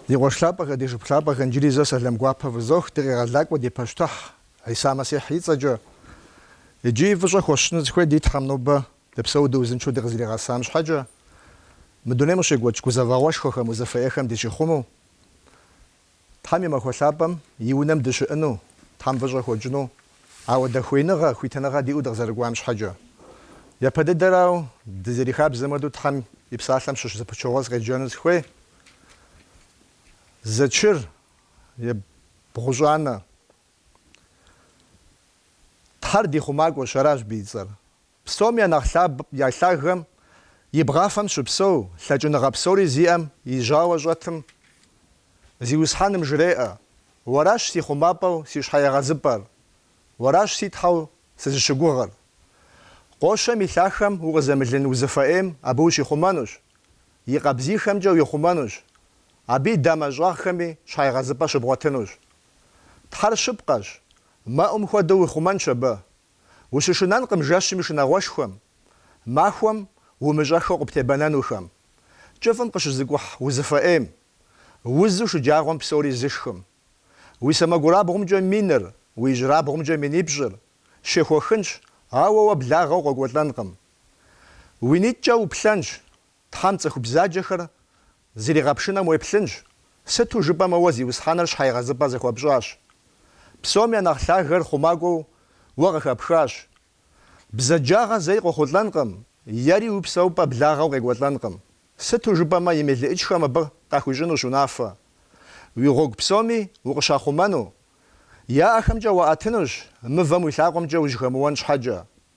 Ди къуэш лъапӏэхэ, ди шыпхъу лъапӏэхэ, иджыри зэ сэлэм гуапэ фызох, ди Къегъэлакӏуэ ди Пащтыхь Хьиса Мэсихь и цӏэкӏэ. Иджыри фӏыщӏэ хуэсщӏыну сыхуей ди Тхьэм нобэ дыпсэу дыузыншэу дыкъызэригъэсам щхьэкӏэ, мы дунейм къыщекӏуэкӏ гузэвэгъуэшхуэхэм, узыфэ ӏейхэм дыщихъумэу. Тхьэм и Махуэ Лъапӏэм и унэм дыщыӏэну, Тхьэм фӏыщӏэ хуэтщӏыну, ауэдэ хуеиныгъэ, хуитыныгъэ диӏэу дыкъызэрыкӏуам щхьэкӏэ. Япэ дыдэрауэ, дызэрихабзэм хуэдэу Тхьэм и Псалъэм щыщ зы пычыгъуэ сыкъеджэну сыхуей. Зэчыр ебгъущӏанэ. Тхьэр ди хъумакӏуэщ, аращ абы и цӏэр. Псом я нэхъ лъаб я лъагэм и бгъафэм щыпсэу, лъэкӏыныгъэ псори зиӏэм и жьауэ щӏэтым, Зиусхьэным жреӏэ, Уэращ си хъумапӏэу си щхьэегъэзыпӏэр, Уэращ си Тхьэу сызыщыгугъыр. Къощэм и лъахъэм укъызэмылын узыфэ ӏейм абы ущихъумэнущ, и къабзийхэмкӏэ уихъумэнущ, абы и дамэ щӏагъхэми щхьэегъэзыпӏэ щыбгъуэтынущ. Тхьэр щыпкъэщ, мэӏум хуэдэу уихъумэнщ абы, Ущышынэнкъым жэщым и шынагъуэшхуэм, махуэм умыщӏэхэу къыптебэнэнухэм, кӏыфӏым къыщызыкӏухь узыфэ ӏейм, узу шэджагъуэм псори зышхым. Уи сэмэгурабгъумкӏэ миныр, уи ижьырабгъумкӏэ минипщӏыр щехуэхынщ, ауэ уэ благъэу къокӏуэлӏэнкъым. Уи нитӏкӏэ уплъэнщ, Тхьэм цӏыху бзаджэхэр зэригъэпшынэм уеплъынщ, сыту жыпӏэмэ уэ Зиусхьэныр щхьэегъэзыпӏэ зыхуэпщӏащ. Псом я нэхъ лъагэр хъумакӏуэу уэ къыхэпхащ. Бзаджагъэ зэи къохъулӏэнкъым, ери уи псэупӏэ благъэу къекӏуэлӏэнкъым, сыту жыпӏэмэ и мелыӏычхэм абы къахуищӏынущ унафэ. Уи гъуэгу псоми укъыщахъумэну, я ӏэхэмкӏэ уаӏэтынущ, мывэм уи лъакъуэмкӏэ ужьхэмыуэн щхьэкӏэ.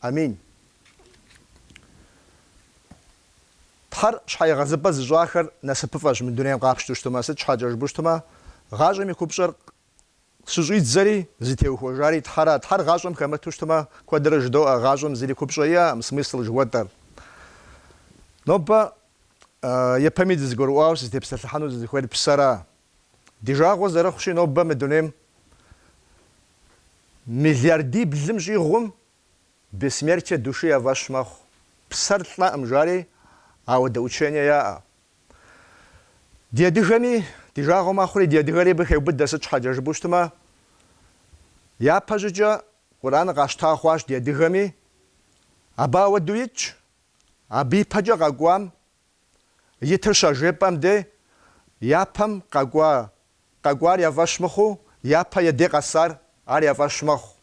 Амин. Тхьэр щхьэегъэзыпӏэ зыщӏахэр насыпыфӏэщ мы дунейм къапщту щытумэ, сыт щхьэкӏэ жыпӏэу щытумэ, гъащӏэм и купщӏэр щыщӏидзэри, зытеухуэжари Тхьэра. Тхьэр гъащӏэм хэмыту щытумэ, куэдрэ жыдоӏэ, гъащӏэм зыри купщӏэ иӏэкъым, смысл жыхуэтӏэр. Нобэ япэми дызэгурыӏуауэ сызытепсэлъыхьэну сызыхуейр псэра. Ди жагъуэ зэрыхъущи, нобэ мы дунейм миллиардиблым щӏигъум бессмертие души я фӏэщ мэхъу. Псэр лӏэкъым жари, ауэдэ учение яӏэ. Ди адыгэми ди жагъуэ мэхъури, ди адыгэри абы хеубыдэ, сыт щхьэкӏэ жыпӏэу щытмэ, япэщӏыкӏэ Къураныр къащта хъуащ ди адыгэми, абы ауэдэу итщ, абы ипэкӏэ къэкӏуам Итыр щажепӏэм де япэм къэкӏуа, къэкӏуар я фӏэщ мыхъуу, япэ я де къэсар ар я фӏэщ мэхъу.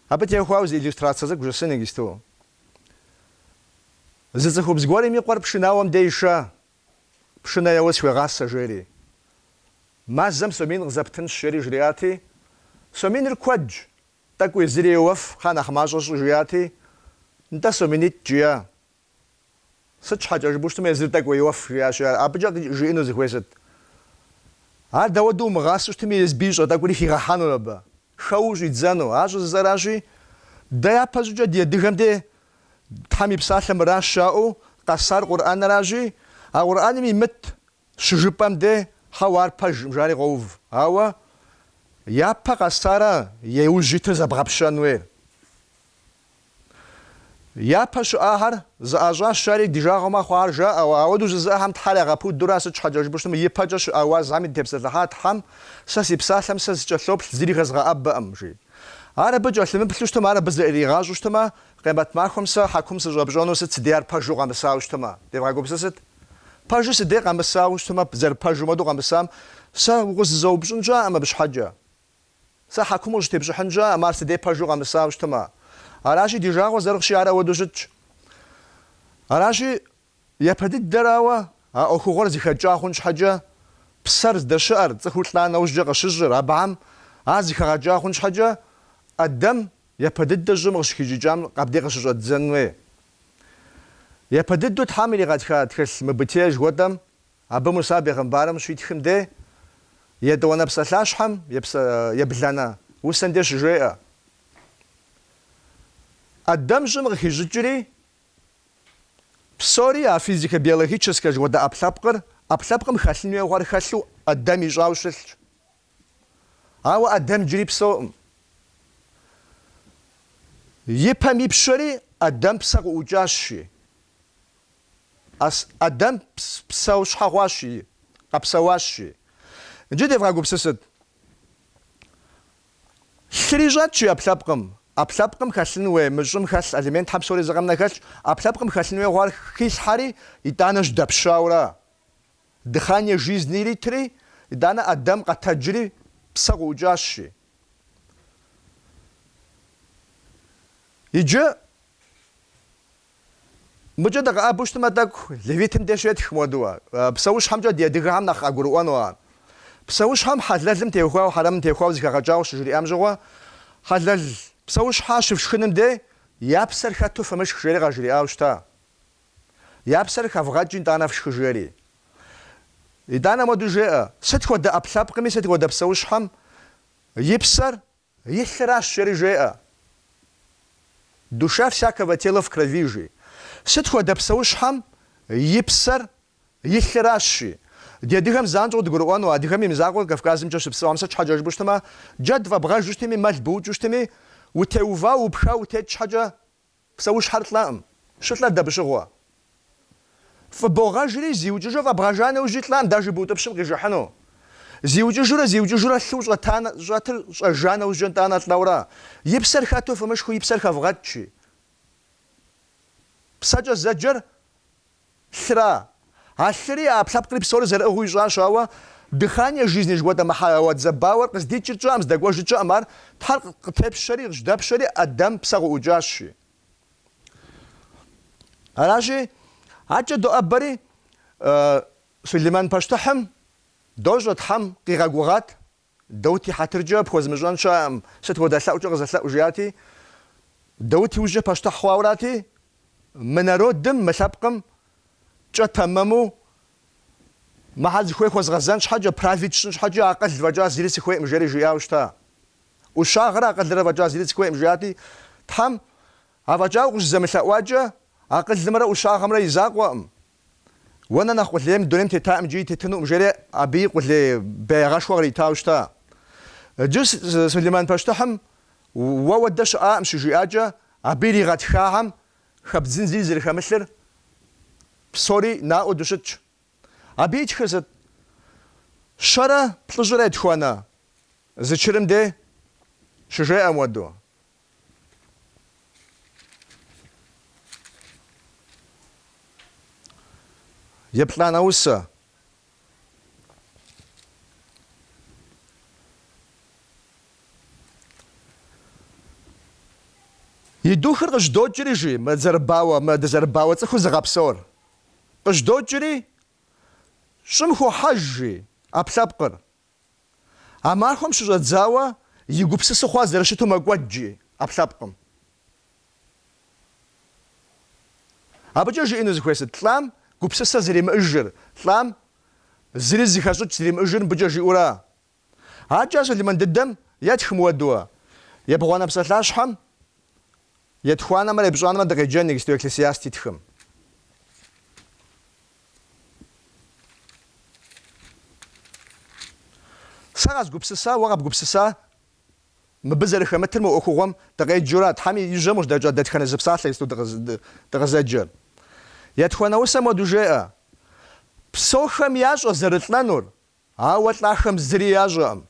Абы теухуауэ зы иллюстрацэ цӏыкӏу жысӏын иджысту. Зы цӏыхубз гуэрым и къуэр пшынауэм де ишэ, Пшынэ еуэ схуегъасэ, жери. Мазэм сом мин къызэптынщ, жери жриӏати, сом миныр куэдщ, тӏэкӏу езыри еуэф, кхъа, нэхъ мащӏэ щӏы, жиӏати, нтӏэ сом минитӏ, жиӏэ. Сыт щхьэкӏэ жыпӏэу щытмэ, езыр тӏэкӏу йоуэф, жиӏащ. Абыкӏэ жиӏэну зыхуейр сыт? Ар дауэдэу умыгъасэу щытми, езыбы ищӏэ тӏэкӏури хигъэхьэнур абы, хэуэу щӏидзэну. Ар щӏыжысӏэращи, дэ япэщӏыкӏэ ди адыгэм де, Тхьэм и Псалъэ мыращ жаӏэу къэсар Къурӏэнращи, а Къурӏэным имыт щыжыпӏэм де, хьэуэ, ар пэжкъым, жари къоув. Ауэ япэ къэсара яужь итыр зэбгъэпщэн хуейр? Япэ щыӏахэр зэӏащӏащ, жари ди жагъуэ мэхъу ар жаӏэу, ауэдэу жызыӏэхэм Тхьэр ягъэпудура сыт щхьэкӏэ жыпӏэу щытмэ ипэкӏэ щыӏа уазхэми дытепсэлъыхьа Тхьэм сэ си псалъэм сэ сыкӏэлъоплъ зыри хэзгъэӏэбэкъым, жи. Ар абы кӏэлъымыплъу щытмэ, ар абы зэӏаригъащӏэу щытмэ, къемэт махуэм сэ хьэкум сыщӏэпщӏэну сыт си дей ар пэжу къэмысауэ щытмэ, девгъэгупсысыт? Пэжу си дей къэмысауэ щытмэ, зэрыпэжым хуэдэу къэмысам сэ укъызызэупщӏын щыӏэкъым абы щхьэкӏэ. Сэ хьэкум къыщӏыстепщӏыхьын щыӏэкъым, ар си де пэжу къэмысауэ щытмэ, аращи, ди жагъуэ зэрыхъущи, ар ауэдэу щытщ. Аращи, япэ дыдэрауэ а ӏуэхугъуэр зэхэкӏа хъун щхьэкӏэ, псэр здэщыӏэр, цӏыхур лӏа нэужькӏэ къыщыщӏыр, абыхэм ар зэхэгъэкӏа хъун щхьэкӏэ, ӏэдэм япэ дыдэ щӏым къыщыхищӏыкӏам, абдей къыщыщӏэддзэн хуей. Япэ дыдэу Тхьэм иригъэтха тхылъым, Бытие жыхуэтӏэм Абы Муса бегъымбарым щитхым де, Етӏуанэ псалъащхьэм и ебланэ усэм де щыжеӏэ, ӏэдэм щӏым къыхищӏыкӏри, псори, а физико-биологическэ жыхуэтӏэ ӏэпкълъэпкъыр, ӏэпкълъэпкъым хэлъын хуейуэ хъуар хэлъу ӏэдэм ищӏауэ щылъщ. Ауэ ӏэдэм иджыри псэукъым. И пэм ипщэри ӏэдэм псэ къыӏукӏащ, жи. Ас Адэм псэущхьэ хъуащ, жи, къэпсэуащ, жи. Иджы девгъэгупсысыт. Лъыри щӏэтщи ӏэпкълъэпкъым. ӏэпкълъэпкъым хэлъын хуей мы щӏым хэлъ элементхэм псори зы къэмынэу хэлъщ. ӏэпкълъэпкъым хэлъын хуейуэ хъуар хилъхьэри, итӏанэ щыдэпщаура. Дыхание жизни иритри, итӏанэ Адэм къэтэджри псэ къыӏукӏащ, жи. Иджы. Мыкӏэ дыкъэӏэбэу щытмэ тӏэкӏу, Левитым деж щетх моду ар. Псэущхьэмкӏэ ди адыгэхэм нэхъ къагурыӏуэну ар. Псэущхьэм хьэлэлым теухуауэ, хьэрэмым теухуауэ зыхэгъэкӏауэ щыжриӏам щыгъуэ, хьэлэл псэущхьэ щыфшхыным де я псэр хэту фымышх жери къажриӏау щыта. Я псэр хэвгъэкӏ итӏанэ фшхы жери. Итӏанэ моду жеӏэ, сыт хуэдэ ӏэпкълъэпкъми, сыт хуэдэ псэущхьэм и псэр И лъыращ жери жеӏэ. Душа всякого тела в крови, жи. Сыт хуэдэ псэущхьэм и псэр и лъыращ, жи. Ди адыгэм занщӏэу дыгурыӏуэну, адыгэм и мызакъуэу Кавказымкӏэ щыпсэуам сыт щхьэкӏэ жыпӏэу щытмэ, джэд фӏэбгъэжу щытми, мэл быукӏыу щытми, утеувау, упхауэ утет щхьэкӏэ Псэущхьэр лӏакъым. Щылӏэр дабыщыгъуэ? Фӏыбогъэжри, зиукӏыжу фӏэбгъэжа нэужьи лӏакъым, даже быутӏыпщым къижыхьыну. Зиукӏыжурэ зиукӏыжурэ лъыу щӏэта щӏэтыр щӏэжа нэужькӏэ итӏанэ лӏэурэ, и псэр хэту фымышхыу и псэр хэвгъэкӏ, жи. Псэкӏэ зэджэр. Лъыра. А лъыри, ӏэпкълъэпкъри псори зэрыӏыгъыу ищӏащ, ауэ Дыхание жизни жыхуэтӏэ мы хьэуа дызэрыбауэр къыздикӏыр тщӏэӏым, здэкӏуэжыр тщӏэӏым, ар Тхьэр къытепщэри, къыжьэдэпщэри, Адэм псэ къыӏукӏащи. Аращи, адэкӏэ доӏэбэри, Сулейман пащтыхьым дощӏэ, Тхьэм къигъэгугъат Даут и хьэтыркӏэ пхуэзымыщӏэн щыӏэкъым, сыт хуэдэ лъэӏукӏэ къызэлъэӏу жиӏати, Даут и ужькӏэ пащтыхь хъуаурати, мы народым, мы лъэпкъым кӏэ тэмэму мыхьэл зыхуей хуэзгъэзэн щхьэкӏэ, править сщӏын щхьэкӏэ акъыл фӏэкӏа зыри сыхуейкъым жери жиӏауэ щыта. ӏущагъэрэ акъылрэ фӏэкӏа зыри сыхуейкъым жиӏати, Тхьэм, афӏэкӏа укъыщызэмылъэӏуакӏэ, акъылымрэ ӏущагъэмрэ и закъуэкъым, Уэ нэ нэхъ къулей мы дунейм тетаӏым иджыри тетынукъым, жери абыи къулей беягъэшхуэ къритауэ щыта. Иджы Сулейман пащтыхьым уэ хуэдэ щыӏакъым щыжиӏакӏэ, абы иригъэтхахэм хэбдзын зыри зэрыхэмылъыр псори наӏуэу дыщытщ. Абы итхыр сыт? Щэрэ плӏыщӏрэ етхуанэ зэчырым дей щыжеӏэ моду. Еплӏанэ усэ. И духыр къыжьэдокӏри, жи, мы дызэрыбауэ, мы дызэрыбауэ цӏыхур зыгъэпсэур. Къыжьэдокӏри, щӏым хохьэж, жи, ӏэпкълъэпкъыр. А махуэм щыщӏэдзауэ и гупсысэ хъуар зэрыщыту мэкӏуэд, жи, ӏэпкълъэпкъым. Абыкӏэ жиӏэну зыхуейр сыт? Лӏам гупсысэ зэримыӏыжыр, лӏам зыри зыхэщӏыкӏ зэримыӏыжыр мыбыкӏэ жиӏэура? Аркӏэ ар Сулеймэн дыдэм етх моуэдэу, Ебгъуанэ псалъащхьэм етхуанэмрэ епщӏанэмрэ дыкъеджэн, иджыпсту Экклесиаст итхым. Сэ къэзгупсыса, уэ къэбгупсыса, мыбы зэрыхэмытыр мы ӏуэхугъуэм дыкъеджэура, Тхьэм и жьэм къыжьэдэкӏа дэтхэнэ зы псалъэ иджыпсту дыкъызэджэр? Етхуанэ усэм моуэдэу жеӏэ, псохэм ящӏэ зэрылӏэнур, Ауэ лӏахэм зыри ящӏэкъым.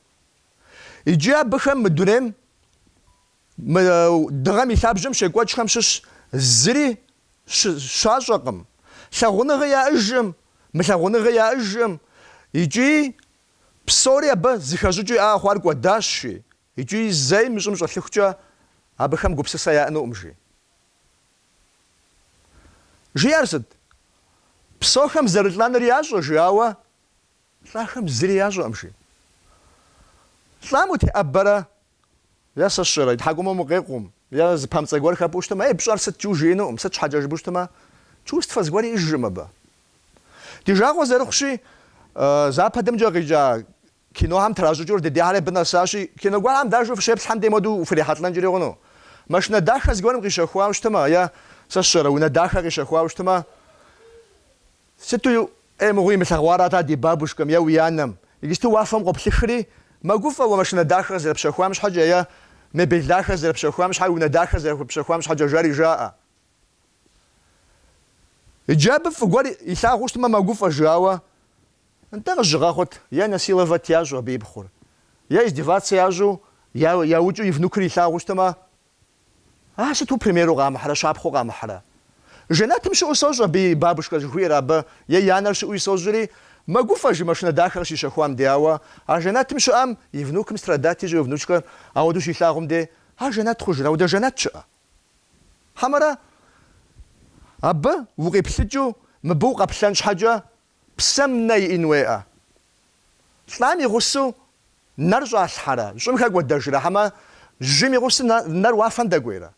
Икӏи абыхэм мы дунейм, мы Дыгъэм и лъабжьэм щекӏуэкӏхэм щыщ зыри щащӏэкъым, лъагъуныгъи яӏыжкъым, мылъагъуныгъи яӏыжкъым икӏи псори абы зыхэщӏыкӏыу яӏа хъуар кӏуэдащ, жи, икӏи зэи мы щӏым щӏэлъыхукӏэ абыхэм гупсысэ яӏэнукъым, жи. Жиӏэр сыт? Псохэм зэрылӏэныр ящӏэ, жи, ауэ Лӏахэм зыри ящӏэкъым, жи. Лӏам утеӏэбэрэ, е сэ сщӏэрэ, и тхьэкӏумэм укъекъум, е зы памцӏэ гуэр хэпӏуу щытмэ, ей, пщӏэр сыт, жиӏэу жиӏэнукъым, сыт щхьэкӏэ жыпӏэу щытмэ, чувствэ зыгуэри иӏыжкъым абы. Ди жагъуэ зэрыхъущи, западымкӏэ къикӏа кинохэм тращӏыкӏыу дыдейхэри абы нэсащи, кино гуэрхэм даже фыщеплъхэм дей моуэдэу фрихьэлӏэнкӏэри хъуну. Машинэ дахэ зыгуэрым къищэхуауэ щытмэ, е, сэ сщӏэрэ, унэ дахэ къищэхуауэ щытмэ, Сыту ӏей мыгъуи имылъэгъуарат-а ди бабушкэм е уи анэм. Иджыпсту уафэм къоплъыхри, мэгуфӏэ уэ машинэ дахэр зэрыпщэхуам щхьэкӏэ е мебель дахэр зэрыпщэхуам щхьэкӏэ, унэ дахэр зэрыпщэхуам щхьэкӏэ жари жаӏэ. Иджы абы фӏы гуэр илъагъуу щытмэ мэгуфӏэ, жи, ауэ нтӏэ къызыщыгъэхъут, е насиловать ящӏу абы и пхъур, е издеваться ящӏу, яукӏыу и внукыр илъагъуу щытмэ Ар сыту примеру къамыхьрэ, щапхъэу къамыхьрэ? Жэнэтым щыӏэу сощӏ абы и бабушкэ жыхуиӏэр абы, е и анэр щыӏэуи сощӏри, мэгуфӏэ жи машинэ дахэ къыщищэхуам де, ауэ а жэнэтым щыӏэм и внукым страдать ищӏу, е внучкэр ауэдэу щилъагъум де, ар жэнэт хъужрэ, ауэдэ жэнэт щыӏэ? Хьэмэрэ абы укъиплъыкӏыу мыбы укъэплъэн щхьэкӏэ Псэм нэ иӏэн хуейкъэ. Лӏам и гъусэу нэр щӏалъхьэрэ, щӏым хэкӏуэдэжрэ, хьэмэ жьым и гъусэу нэр уафэм дэкӏуейрэ?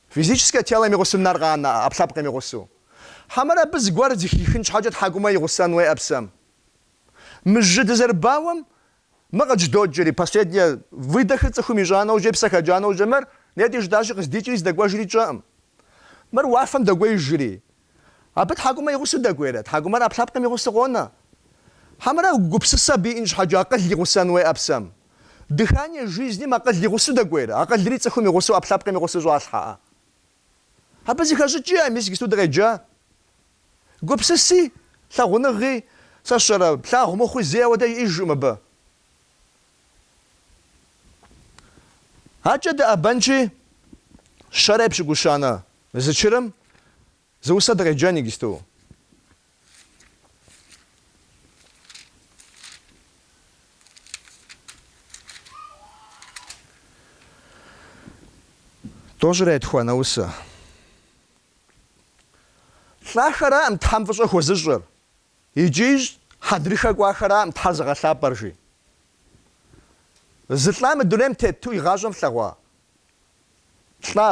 Физическэ телэм и гъусэу нэр къанэкъэ, ӏэпкълъэпкъым и гъусэу. Хьэмэрэ абы зыгуэр зыхихын щхьэкӏэ тхьэкӏумэ и гъусэн хуейкъэ псэм? Мы жьы дызэрыбауэм Мы къыдждоджэри, последний выдохыр цӏыхум ищӏа нэужькӏэ, и псэ хэкӏа нэужькӏэ, мыр нетӏэ жытӏащи къыздикӏри здэкӏуэжри тщӏэкъым. Мыр уафэм дэкӏуеижри. Абы тхьэкӏумэр и гъусэу дэкӏуейрэ? Тхьэкӏумэр ӏэпкълъэпкъым и гъусэу къонэ. Хьэмэрэ гупсысэ абы иӏэн щхьэкӏэ акъыл и гъусэн хуейӏэ псэм? Дыхание жизним акъыл и гъусэу дэкӏуейрэ? Акъылри цӏыхум и гъусэу ӏэпкълъэпкъым и гъусэу щӏалъхьэӏэ? Абы зыхэщӏыкӏи а мис игисту дыкъеджа. Гупсыси, лъагъуныгъи, сэ сщӏэрэ, плъагъу мыхъуи зэи ауэдэ иӏэжкъым абы. Акӏэ дыӏэбэнщи, щэрэ епщыкӏущанэ зэчырым зы усэ дыкъеджэн игисту. Тӏощӏрэ етхуанэ усэ. Лӏахэраӏым Тхьэм фӏыщӏэ хуэзыщӏыр, икӏи хьэдрыхэ кӏуахэраӏым Тхьэр зыгъэлъапӏэр, жи. Зы лӏа мы дунейм тету и гъащӏэм флъэгъуа лӏа?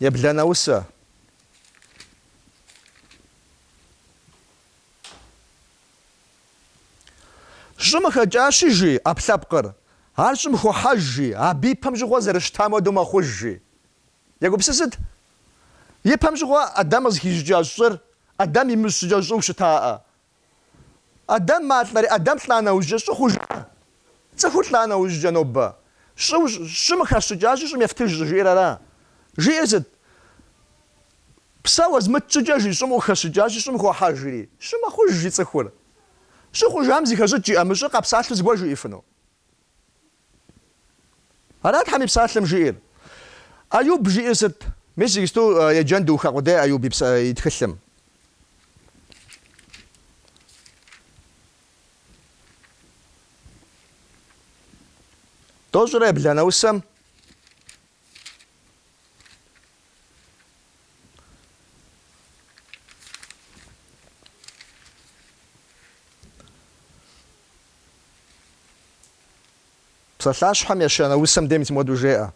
Ебланэ усэ. Щӏым хэкӏащи, жи, ӏэпкълъэпкъыр. Ар щӏым хохьэж, жи, абы и пэм щыгъуэ зэрыщытам хуэдэу мэхъуж, жи. Егупсысыт, И пэм щыгъуэ Адам къызыхищӏыкӏа щӏыр, Адам имыщӏ щӏыкӏэ щӏыу щытаӏэ, Адам малӏэри, Адам лӏа нэужькӏэ щӏы хъужа? Цӏыхур лӏа нэужькӏэ нобэ щӏы, щӏым хэщӏыкӏащи, щӏым ефтыж щӏыжиӏэр ара? Жиӏэр сыт? Псэ уэзмыт щӏыкӏэ жи щӏым укъыхэсщӏыкӏащи, щӏым хохьэжри, щӏы мэхъуж жи цӏыхур. Щӏы хъужам зыхэщӏыкӏ иӏэ? Мы щӏыр къэпсалъэу зыгуэр жиӏифыну? Ара Тхьэм и Псалъэм жиӏэр? Ӏэюб жиӏэр сыт? Мис иджыпсту еджэн духа къудей Ӏэюб и тхылъым. Тӏощӏрэ ебланэ усэм? Псалъащхьэм ещанэ усэм дей мис мыпхуэдэу жеӏэ.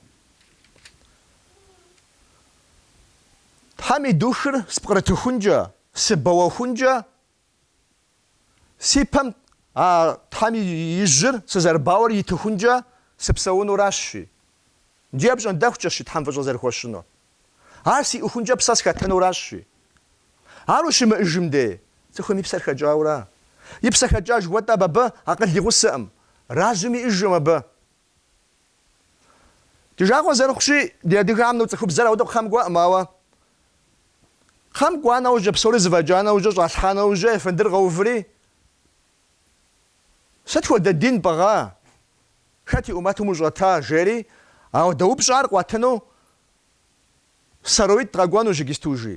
Тхьэм и духыр спкърытыхункӏэ, сыбэуэхункӏэ Си пэм а Тхьэм и жьыр сызэрыбауэр итыхункӏэ сыпсэунуращ, жи. Иджы апщӏондэхукӏэщ, жи, Тхьэм фӏыщӏэ зэрыхуэсщӏынур. Ар сиӏэхункӏэ псэ схэтынуращ, жи. Ар ущымыӏэжым дей, цӏыхум и псэр хэкӏаура? И псэ хэкӏа жыхуэтӏэм абы акъыл и гъусэкъым, разум иӏэжкъым абы. Ди жагъуэ зэрыхъущи, ди адыгэхэм ну цӏыхубзэр ауэдэу кхъэм кӏуэкъым, ауэ кхъэм кӏуа нэужькӏэ, псори зыфӏэкӏа нэужькӏэ, щӏалъхьа нэужькӏэ, ефэндыр къэуври, Сыт хуэдэ дин пӏыгъа? Хэт и ӏумэтым ущӏэта? жери, ауэдэ упщӏар къуэтыну сароид къэкӏуэнущ иджыпсту, жи.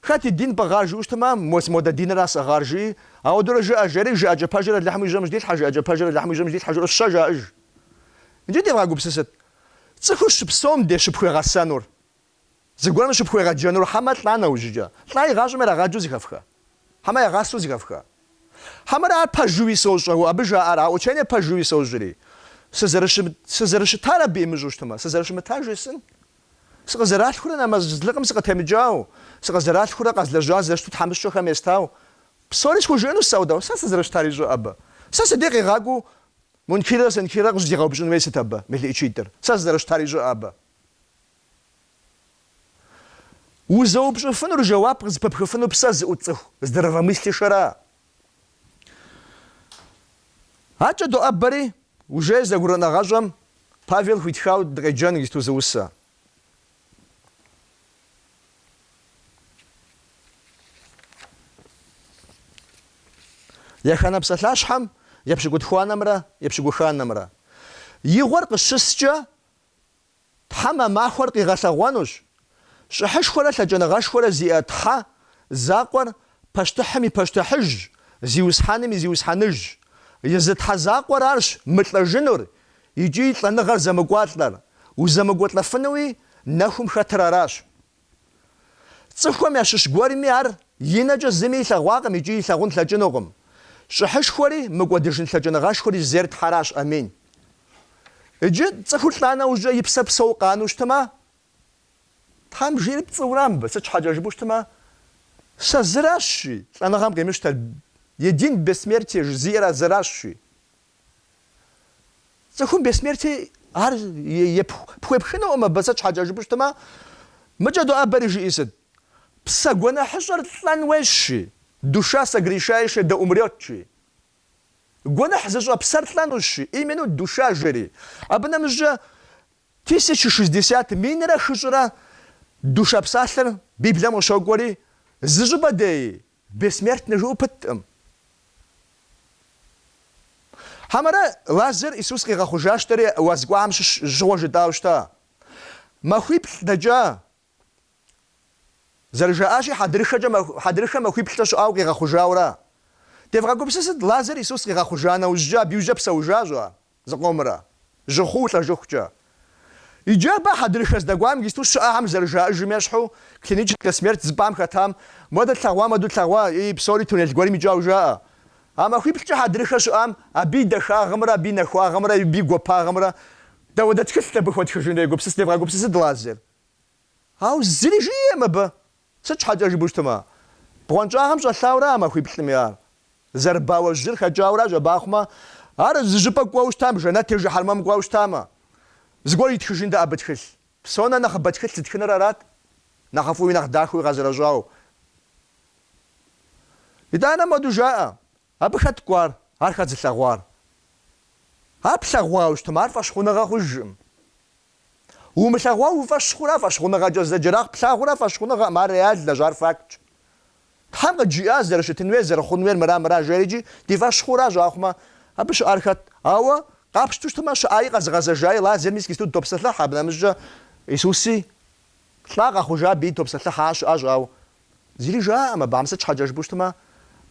Хэт и дин пӏыгъар жыӏэу щытмэ, ам мос модэ динра сӏыгъар жыӏи, ауэдэурэ жыӏэ, жери, жыӏэкӏэ пэжыр Алыхьым и жьэм дилъхьэ, жыӏэкӏэ пэжыр Алыхьым и жьэм дилъхьэ жаӏэу щэ жаӏэж. Иджы девгъэгупсысыт, цӏыхур щыпсэум де щыпхуегъэсэнур, зыгуэрым щыпхуегъэджэнур хьэмэ лӏа нэужьыкӏэ, лӏа игъащӏэм ирагъаджэу зыхэфха, хьэмэ ягъасэу зыхэфха? Хьэмэрэ ар пэжуи сощӏэ, уэ абы жаӏэр, а учение пэжуи сощӏри, сызэрыщы, сызэрыщытар абы имыщӏэу щытмэ, сызэрыщымытар жесӏэн? Сыкъызэралъхурэ нэмэзлыкъым сыкъытемыкӏау, сыкъызэралъхурэ къэзлэжьа зэрыщыту тхьэмыщкӏэхэм естау, псори схужыӏэнущ ауэдэу, сэ сызэрыщытар ищӏэкъэ абы. Сэ сыдей къигъакӏуэу Мункиррэ Сенкиррэ къыщӏызигъэупщӏын хуейр сыт абы, мелыӏычитӏыр, сэ сызэрыщытар ищӏэкъэ абы. Узэупщӏыфынур жэуап къызыпыпхыфыну псэ зыӏут цӏыху здравомыслящэра? Акӏэ доӏэбэри, уже Зэгурыӏуэныгъэщӏэм Павел хуитхау дыкъеджэн иджыпсту зы усэ. Еханэ псалъащхьэм епщыкӏутхуанэмрэ епщыкӏуханэмрэ игъуэр къыщыскӏэ, Тхьэм а махуэр къигъэлъэгъуэнущ. Щӏыхьышхуэрэ лъэкӏыныгъэшхуэрэ зиӏэ Тхьэ закъуэр пащтыхьым и Пащтыхьыжщ, Зиусхьэным и Зиусхьэныжщ. Езы Тхьэ закъуэр аращ мылӏэжынур икӏи лӏэныгъэр зэмыкӏуалӏэр, узэмыкӏуэлӏэфынуи нэхум хэтыр аращ. Цӏыхухэм ящыщ гуэрми ар и нэкӏэ зыми илъэгъуакъым икӏи илъэгъун лъэкӏынукъым. Щӏыхьышхуэри, мыкӏуэдыжын лъэкӏыныгъэшхуэри зейр Тхьэращ. Амин. Иджы цӏыхур лӏа нэужькӏэ и псэр псэуу къану щытмэ, Тхьэм жиӏэр пцӏыура абы, сыт щхьэкӏэ жыпӏэу щытмэ, Сэ зыращ, жи, лӏэныгъэм къимыщтэр, един бессмертие, жи, зиӏэр а зыращ, жи. Цӏыхум бессмертие ар пхуепхынукъым абы, сыт щхьэкӏэ жыпӏэу щытмэ, мыкӏэ доӏэбэри жиӏэр сыт? Псэ гуэныхьыщӏэр лӏэн хуейщ, жи, душа согрешающая да умрёт, жи. Гуэныхь зыщӏэ псэр лӏэнущ, жи, именно душа жери. Абы нэмыщӏкӏэ тысяча шестьдесят минрэ хыщӏрэ душа псалъэр Библием къыщокӏуэри, зы щӏыпӏэ деи, Бессмертный жыӏэу пыткъым. Хьэмэрэ Лазар Исус къигъэхъужащтэри уаз кӏуахэм щыгъуэ жытӏауэ щыта? Махуиплӏ дэкӏа. Зэрыжаӏащи, хьэдрыхэкӏэ маху, хьэдрыхэ махуиплӏкӏэ щыӏауэ къигъэхъужауэра? Девгъэгупсысыт, Лазар Исус къигъэхъужа нэужькӏэ абы иужькӏэ псэужащ-а? Зыкъомрэ, жьы хъуу лӏэжыхукӏэ. Иджы абы хьэдрыхэ здэкӏуам гисту щыӏахэм зэрыжаӏэжым ещхьу, клиническэ смерть зыпӏам хэтам, Модэ тлъэгъуа моду тлъэгъуа, ии, псори туннель гуэрым икӏауэ жаӏэ. А махуиплӏкӏэ хьэдрыхэ щыӏам, абы и дахагъымрэ абы и нэхуагъымрэ абы и гуапагъымрэ дауэдэ тхылът абы хуэтхыжынур егупсыс, девгъэгупсысыт Лазар. Ауэ зыри жиӏэм абы. Сыт щхьэкӏэ жыпӏэу щытмэ, бгъуэнщӏагъым щӏэлъаурэ а махуиплӏми ар зэрыбауэ жьыр хэкӏауэращ абахъумэ, ар зы щӏыпӏэ кӏуэу щытам, жэнэт е жыхьэрмэм кӏуэу щытамэ, зыгуэр итхыжынтэкъэ абы тхылъ. Псонэ нэхъыбэ тхылъ зытхыныр арат, нэхъыфӏуи нэхъ дахэуи игъэщӏэрэщӏауэ. Итӏанэ моду жаӏэ. Абы хэт кӏуар, ар хэт зылъэгъуар? Ар плъэгъуауэ щытмэ, ар фӏэщхъуныгъэ хъужкъым. Умылъэгъуауэ уи фӏэщ хъура фӏэщхъуныгъэкӏэ зэджэр, а плъагъур фӏэщхъуныгъэкъым, ар реальнэщ, ар фактщ. Тхьэм къыджиӏащ зэрыщытын хуейр, зэрыхъун хуейр мыра-мыра жери икӏи ди фӏэщ хъуращ ахъумэ, абы щыӏар хэт? Ауэ къапщту щытмэ, щыӏаи къэзыгъэзэжаи Лазар мис гисту дытопсэлъыхь, абы нэмыщӏкӏэ Исуси лӏа къэхъужа абыи топсэлъыхь, ар щыӏащ, ауэ Зыри жаӏэм, абыхэм сыт щхьэкӏэ жыпӏэу щытмэ,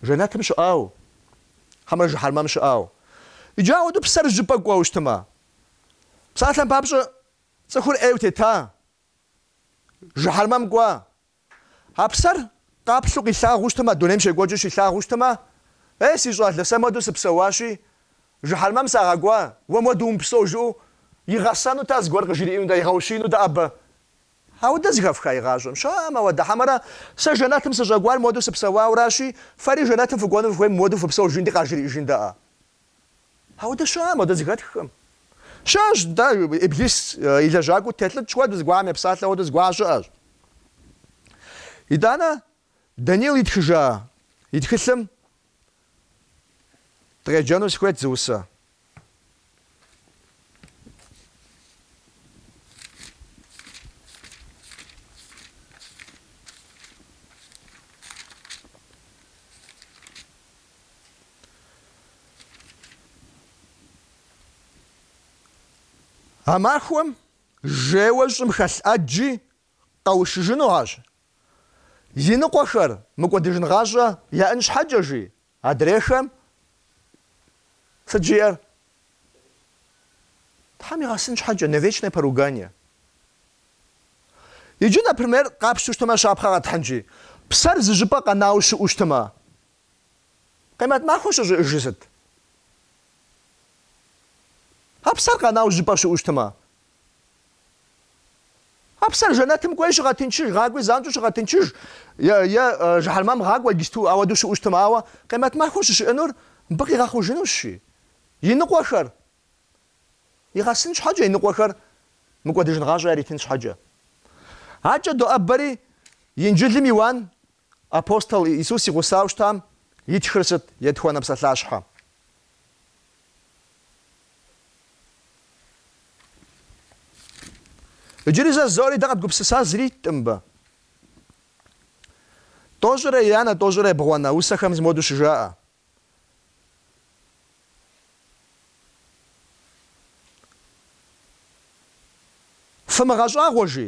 жэнэтым щыӏауэ, хьэмэрэ жыхьэрмэм щыӏауэ. Иджы ауэдэу псэр щӏыпӏэ кӏуэу щытмэ, псалъэм папщӏэ цӏыхур ӏейуэ тета, жыхьэрмэм кӏуа. А псэр къаплъу къилъагъуу щытмэ, дунейм щекӏуэкӏыу щилъагъуу щытмэ, Ей, си щӏалэ, сэ муэду сыпсэуащи, жыхьэрмэм сагъэкӏуа, уэ муэду умыпсэу жыӏэу игъэсэнутэкъэ, зыгуэр къыжриӏэнутэкъэ, игъэущиинутэкъэ абы? Ауэдэ зыхэфха игъащӏэм щыӏэкъым, ауэдэ. Хьэмэрэ сэ жэнэтым сыщӏэкӏуар модэу сыпсэуауэращи, фэри жэнэтым фыкӏуэну фыхуейм модэу фыпсэу жиӏэнти къажриӏэжынтэкъэ? Ауэдэ щыӏэкъым, ауэдэ зыхэтххэм. Щыӏэщ дэ Иблис и лэжьакӏуэу телӏыкӏ хуэдэу, зыгуахэм епсалъэ хуэдэу зыгуаха щыӏэщ. Итӏанэ Данил итхыжа и тхылъым дыкъеджэну сыхуейт зы усэ. А махуэм жеуэ щӏым хэлъ ӏэджи къэушыжыну ащ, жи. И ныкъуэхэр мыкӏуэдыжын гъащӏэ яӏэн щхьэкӏэ, жи адрейхэм. Сыт жиӏэр? Тхьэм игъэсын щхьэкӏэ, на вечное поругание. Иджы, например, къапщтэу щытмэ, щапхъэ къэтхьынщи, псэр зы щӏыпӏэ къэнауэ щыӏэу щытмэ, къемэт махуэ щӏыщыӏэжыр сыт? А псэр къэнауэ зы щӏыпӏэ щыӏэу щытмэ, А псэр жэнэтым кӏуей щыгъэтынчыж, гъакӏуи занщӏэу щыгъэтынчыж, е, е жыхьэрмэм гъакӏуэ иджысту ауэдэу щыӏэу щытмэ, ауэ къемэт махуэ щӏыщыӏэнур мыбы къигъэхъужынущ, жи. И ныкъуэхэр игъэсын щхьэкӏэ, и ныкъуэхэр мыкӏуэдыжын гъащӏэ яритын щхьэкӏэ. Акӏэ доӏэбэри, Инджылым Иуан Апостол Исус и гъусэу щытам итхыр сыт? Етхуанэ псалъащхьэ. Иджыри зэ жызоӏэри дэ къэдгупсыса зыри иткъым мыбы. Тӏощӏрэ еянэ, тӏощӏрэ ебгъуанэ усэхэм зы модэу щыжаӏэ. Фымыгъэщӏагъуэ жи,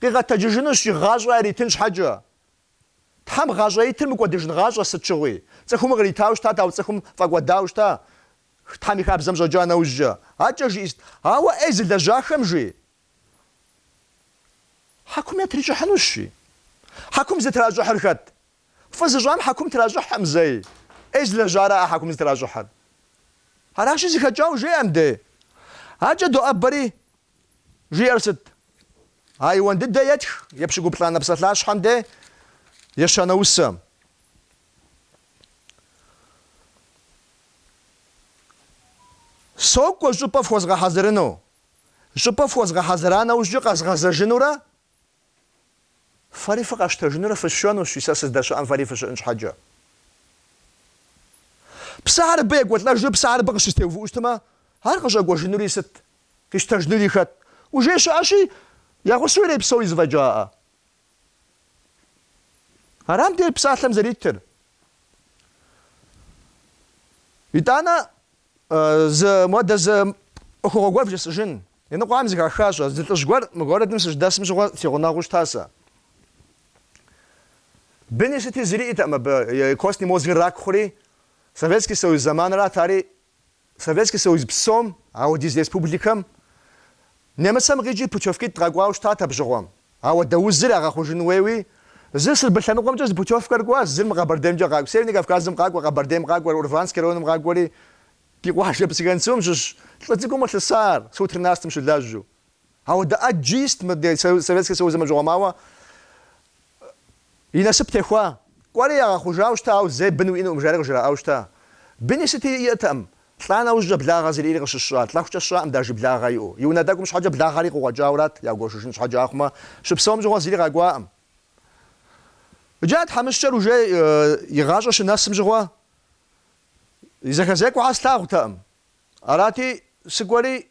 Къигъэтэджыжынущ, жи, гъащӏэ яритын щхьэкӏэ. Тхьэм гъащӏэ итыр мыкӏуэдыжын гъащӏэ сыт щыгъуи. Цӏыхум къритауэ щыта, ауэ цӏыхум фӏэкӏуэдауэ щыта Тхьэм и хабзэм щӏэкӏа нэужькӏэ. Акӏэ жиӏэр сыт? Ауэ ӏей зылэжьахэм жи. Хьэкум ятрищӏыхьынущ, жи. Хьэкум зытращӏыхьыр хэт? Фӏы зыщӏам хьэкум тращӏыхькъым зэи. ӏей зылэжьара а хьэкум зытращӏыхьыр? Аращи зыхэкӏауэ жеӏэ мыбдей. Акӏэ доӏэбэри. Жиӏэр сыт? А Иуан дыдэ етх епщыкӏуплӏанэ псалъащхьэм де ещанэ усэм. Сокӏуэ щӏыпӏэ фхуэзгъэхьэзырыну. Щӏыпӏэ фхуэзгъэхьэзыра нэужькӏэ къэзгъэзэжынурэ Фэри фыкъэсщтэжынурэ фысшэнущ, жи, сэ сыздэщыӏэм фэри фыщыӏэн щхьэкӏэ. Псэхэр абы екӏуэлӏэжу, псэхэр абы къыщызэтеувыӏэу щытмэ, ар къыщӏэкӏуэжынури сыт, къищтэжынури хэт? Уже щыӏэщи, я гъусэу ирепсэу и зэфӏэкӏакъэ. Ара мыбдей псалъэм зэритыр. Итӏанэ Зы модэ зы ӏуэхугъуэ гуэр вжесӏэжын. Иныкъуэхэм зыхахащӏэ зы лӏыжь гуэр мы городым сыщыдэсым щыгъуэ си гъунэгъуу щытасэ. Быни сыти зыри иӏэтэкъым абы, и костный мозгыр рак хъури, Советский Союз зэманрат ари, Советский Союз псом, ауэдиз республикэм, Нэмыцэм къикӏи путевкитӏ дгъэкӏуауэ щытат абы щыгъуэм. Ауэдэ узыр ягъэхъужын хуейуи, зыр Сырбы лъэныкъуэмкӏэ зы путевкэр кӏуащ, зыр мы Къэбэрдеймкӏэ къакӏуэу. Северный Кавказым къакӏуэ, Къэбэрдейм къакӏуэр, Урванск районым къакӏуэри, ди къуажэ Псыгуэнсум щыщ лӏы цӏыкӏум къылъыса ар, СУ тринадцатым щылэжьу. Ауэдэ ӏэджи ист мы Советский Союзым абы щыгъуэм ауэ И насып техуа. Кӏуэри ягъэхъужауэ щыта, ауэ зэи бын уиӏэнукъым жари къыжраӏауэ щыта. Быни сыти иӏэтэкъым. Лӏа нэужькӏэ благъэ зырири къыщыщыщӏа, лӏэхукӏэ сщӏакъым дажи благъэ иӏэу. И унэ тӏэкӏум щхьэкӏэ благъэри къыкъуэкӏауэрат, ягуэшыжын щхьэкӏэ ахъумэ, щыпсэум щыгъуэ зыри къакӏуакъым. Иджы а тхьэмыщкӏэр уже и гъащӏэ щынэсым щыгъуэ и зэхэзекӏуэхэр слъагъутэкъым. Арати, сыкӏуэри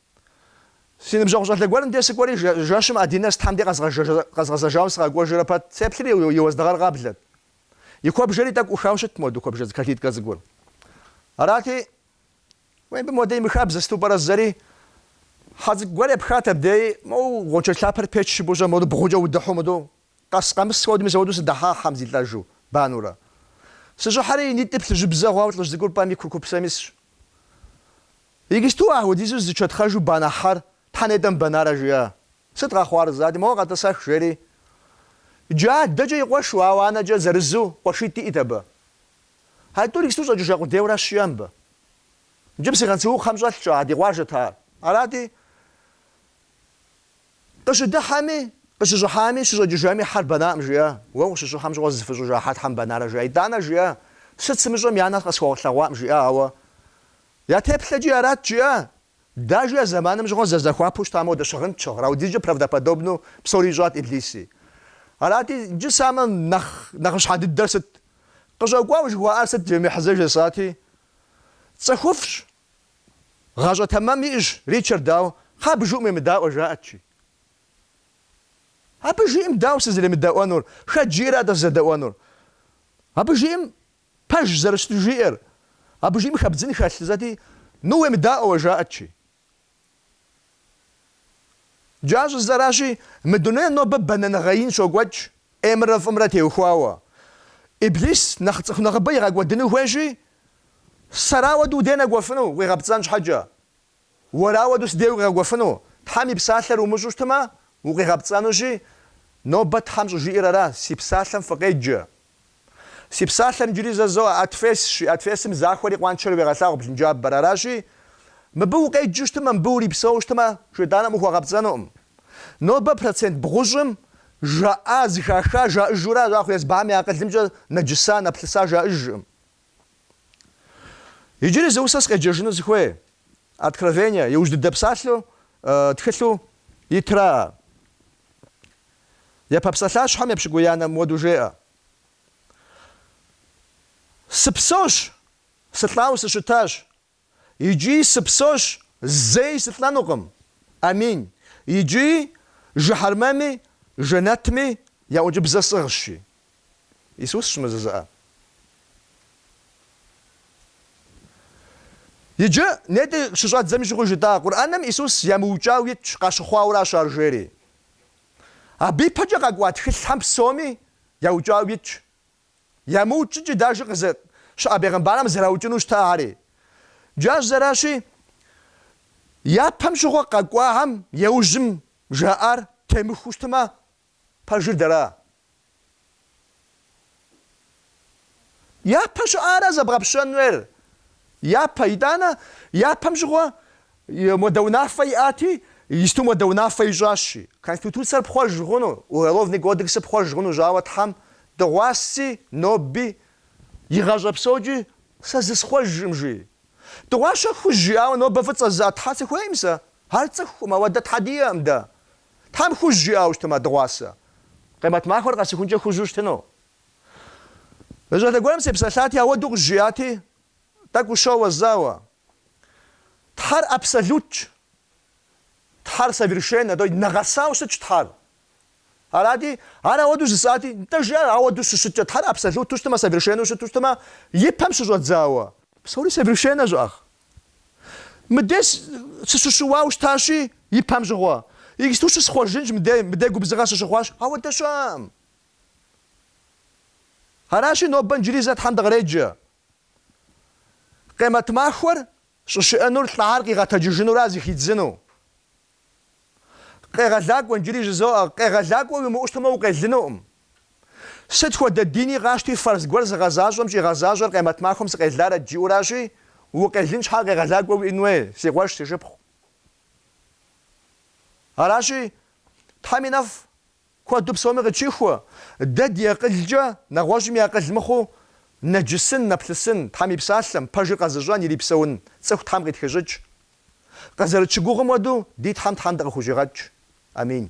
Си ныбжьэгъу щӏалэ гуэрым де сыкӏуэри, жэщым одиннадцатхэм де къэзгъэзэжауэ сыкъакӏуэжрэ пэт, сеплъри и уэздыгъэр къаблэт. И куэбжэри тӏэкӏу ӏухауэ щытт моуэду куэбжэдз калиткэ цӏыкӏур. Арати, уей мыбы моуэдэ имыхабзэ, сыту пӏэрэ зэри, хьэ цӏыкӏу гуэр епхат абдеи, моуэ гъуэншэдж лъапэр печ щыпӏущӏэ, моуэ бгъукӏэ удыхьу мыду Къэс-къэмыс хуэдэу мызэ-уэдэу сыдыхьа хьэм зилӏэжу, банурэ. Сыщӏыхьэри, и нитӏыр плъыжьыбзэ хъуауэ лӏыжь цӏыкӏур пӏэм и курыкупсэм исщ. Иджысту а хуэдизу зичэтхъэжу банэ хьэр щхьэ нетӏэ мыбэнарэ жиӏэ. Сыт къэхъуар жысӏати, моуэ къэтӏысэх, жери. Джы адэкӏэ и къуэшу, ауэ анэкӏэ зырызу, къуэшитӏ иӏт абы. А тӏур иджысту щӏэкӏыжа къудейуэращ жиӏэ мыбы. Иджы Псыгуэнсу кхъэм щӏэлъкӏэ, а ди къуажэт ар. Арати, Къыщыдыхьэми, къыщыщӏыхьами, щыщӏэкӏыжами, хьэр бэнакъым, жиӏэ. Уэ ущыщӏыхьэм щыгъуэ зызыфыщӏыжа хьэр щхьэ мыбэнарэ, жиӏэ. Итӏанэ жиӏэ, Сыт сымыщӏэми я нэр къысхуэлъэгъуакъым, жиӏэ, ауэ я теплъэкӏи арат, жиӏэ. Дажи а зэманым щыгъуэ зэрызэхуапэу щытам хуэдэ щыгъын ящыгът, ауэдизкӏэ правдоподобнэу псори ищӏат Иблиси. Арати, иджы самэ нэхъ нэхъыщхьэ дыдэр сыт? Къыщӏэкӏуауэ жыхуаӏар сыт? Джэмихьэзэ жесӏати, Цӏыхуфӏщ, Гъащӏэ тэмэм иӏэщ Ричард, ауэ, кхъа, абы жиӏэм уемыдаӏуэ, жаӏэт, жи. Абы жиӏэм дауэ сызэремыдэӏуэнур, хэт жиӏэр атӏэ сызэдэӏуэнур? Абы жиӏэм пэж зэрыщыту жиӏэр, абы жиӏэм хэбдзын хэлъ, зэти, ну уемыдаӏуэ уэ, жаӏэт, жи. Джы щӏыжысӏэращи, мы дунейм нобэ бэнэныгъэ ин щокӏуэкӏ ӏеймрэ фӏымрэ теухуауэ. Иблис нэхъ цӏыху нэхъыбэ игъэкӏуэдыну хуейщи, сэр ауэду уи дей нэкӏуэфыну укъигъэпцӏэн щхьэкӏэ? Уэр ауэду си дей укъигъэкӏуэфыну? Тхьэм и псалъэр умыщӏэу щытмэ, укъигъэпцӏэнущи, нобэ Тхьэм щӏыжиӏэр ара, Си псалъэм фыкъеджэ, Си псалъэр, иджыри зэ зоӏэ, отвесщи, отвесым захуэри къуаншэри уегъэлъагъу блынджабэр. Аращи, мыбы укъеджэу щытмэ, мыбы урипсэуэу щытмэ, шейтӏаным ухуэгъэпцӏэнукъым. Нобэ процент бгъущӏым жаӏа, зыхаха жаӏыжуращ, ахъумэ езыхэм я акъылымкӏэ нэджыса, нэплъыса жаӏыжкъым. Иджыри зы усэ скъеджэжыну сыхуей Откровение, иужь дыдэ псалъэу, тхылъу итра. Япэ псалъащхьэм епщыкӏуиянэм мыуэду жеӏэ. Сыпсэущ, сылӏауэ сыщытащ. Иджы сыпсэущ, зэи сылӏэнукъым. Амин. Иджы жыхьэрмэми жэнэтми я ӏункӏыбзэ сӏыгъщ, жи Исус щымызызыӏэ. Иджы нетӏэ щыщӏэддзэми щыгъуи жытӏа, Къурӏэным Исус ямыукӏау итщ, къащыхъуауращ ар жери. Абы ипэкӏэ къэкӏуа тхылъхьэм псоми яукӏау итщ. ямыукӏыкӏи даже къызэт щыӏэ бегъымбархэм зэраукӏыну щытахэри. Джащ зэращи, япэм щыгъуэ къэкӏуахьэм иужьым жаӏар темыхуэу щытмэ, пэжыр дэра? Япэ щыӏара зэбгъэпщэн хуейр? Япэ, итӏанэ, япэм щыгъуэ И модэ унафэ иӏати, иджысту модэ унафэ ищӏащи. Конституцэр пхъуэж хъуну, Уголовный кодексыр пхъуэж хъунущ, ауэ Тхьэм дыгъуаси, ноби, игъащӏэ псокӏи, сэ зысхъуэжкъым, жи. Дыгъуасэ хужь жиӏауэ нобэ фӏыцӏэ зыӏэ Тхьэ сыхуейкъым сэ. Ар цӏыхукъым, ауэдэ Тхьэ диӏэкъым дэ. Тхьэм хужь жиӏауэ щытмэ дыгъуасэ, Къемэт махуэр къэсыхункӏэ хужьу щытыну. Мы щӏалэ гуэрым сепсэлъати, ауэду къызжиӏати, тӏэкӏу ущоуэ, зауэ. Тхьэр абсолютщ. Тхьэр совершеннэ, то есть нэгъэсауэ щытщ Тхьэр. Арати, ар ауэдэу жысӏати, нтӏэ жи ар ауэдэу щыщыткӏэ, Тхьэр абсолюту щытмэ, совершеннэу щыту щытмэ, и пэм щыщӏэдзауэ. Псори совершеннэ щыӏэкъым. Мыдей сыщыщыуау щытащи, и пэм щыгъуэ. Иджысту щысхъуэжынщ мыдей, мыдей губзыгъэ сыщыхъуащ, ауэдэ щыӏэкъым. Аращи, нобэ иджыри зэ Тхьэм дыкъреджэ. Къемэт махуэр щӏыщыӏэнур лӏахьэр къигъэтэджыжынура зыхидзыну? Къегъэлакӏуэ, иджыри жызоӏэ, къегъэлакӏуэ уимыӏэу щытмэ укъелынукъым. Сыт хуэдэ дини къащти фэрз гуэр зыгъэзащӏэм щӏигъэзащӏэр къемэт махуэм сыкъеларэт жиӏэуращи, укъелын щхьэ къегъэлакӏуэ уиӏэн хуей, си къуэш, си шыпхъу. Аращи, Тхьэм и нэфӏ. Куэду псоми къытщыхуэ, дэ ди акъылкӏэ, нэгъуэщӏым и акъыл мыхъуу, нэджысын, нэплъысын, Тхьэм и Псалъэм, пэжыр къэзыщӏэн, ирипсэун цӏыху Тхьэм къитхыщӏыкӏ. Къызэрытщыгугъым хуэдэу, ди Тхьэм Тхьэм дыкъыхущӏигъэкӏ. Амин.